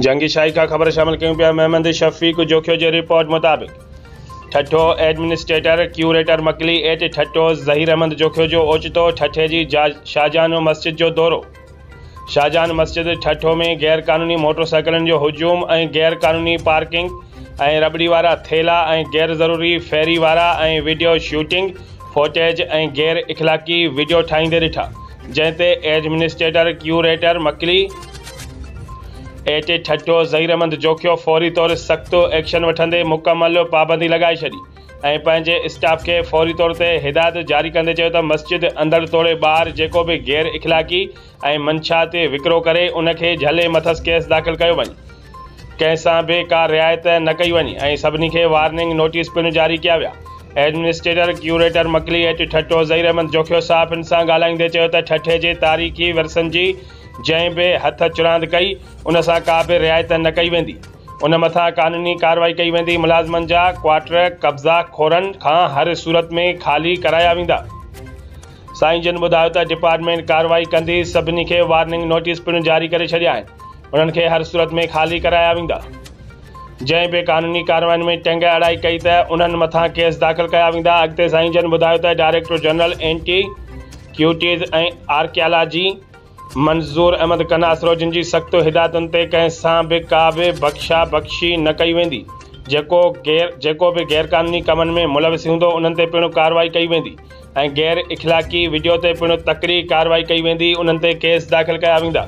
جنگي شائقه خبر شامل ڪيون پيا محمد شفيق جوکيو جي رپورٽ مطابق Thatta administrator curator Makli at Thatta Zaheer Ahmed Jokhio جو اوچتو ٺٽي جي شاهجهان مسجد جو دورو شاهجهان مسجد ٺٽو ۾ غير قانوني موٽر سائيڪلن جو هجوم ۽ غير قانوني پارڪنگ ۽ رٻڙي وارا ٿيلها ۽ غير ضروري ڦيري وارا ۽ وڊيو شوٽنگ فوٽيج ۽ غير اخلاقي وڊيو ٺاهيندي ڏٺا جنهن تي administrator curator Makli at Thatta Zaheermand Jokhio فوري طور سخت ايڪشن وٺندي مڪمل پابندي لڳائي ڇڏي ۽ پنهنجي اسٽاف کي فوري طور تي هدايت جاري ڪندي چيو ته مسجد اندر توڙي ٻاهر جيڪو به غير اخلاقي ۽ منشياتي وڪرو ڪري ان کي جهلي مٿس ڪيس داخل ڪيو وڃي ڪنهن سان به ڪا رعايت نه ڪئي وڃي ۽ سڀني کي وارننگ نوٽيس پڻ جاري ڪيا ويا. Administrator curator Makli at Thatta Zaheer Ahmed Jokhio صحافين سان ڳالهائيندي چيو ته ٺٽي جي تاريخي ورثن جي جنهن به هٿ چراند ڪئي ان سان ڪا به رعايت نه ڪئي ويندي ان مٿان قانوني ڪارروائي ڪئي ويندي ملازمن جا ڪوارٽر قبضا خورن کان هر صورت ۾ خالي ڪرايا ويندا. سائين جن ٻڌايو ته ڊپارٽمينٽ ڪارروائي ڪندي سڀني کي وارننگ نوٽيس پڻ جاري ڪري ڇڏيا آهن انهن کي هر صورت ۾ خالي ڪرايا ويندا جنهن بي قانوني ڪاررواين ۾ ٽنگ اڙائي ڪئي ته انهن مٿان ڪيس داخل ڪيا ويندا اڳتي سائين جن ٻڌايو ته director general anti ڪيوٽيز ۽ archaeology Manzoor Ahmed Qanasro جن جي سخت هدايتن تي ڪنهن سان به ڪا به بخشا بخشي نه ڪئي ويندي جيڪو غير جيڪو به غير قانوني ڪمن ۾ ملوث هوندو انهن تي پڻ ڪارروائي ڪئي ويندي ۽ غير اخلاقي وڊيو تي پڻ تڪڙي ڪارروائي ڪئي ويندي انهن تي ڪيس داخل ڪيا ويندا.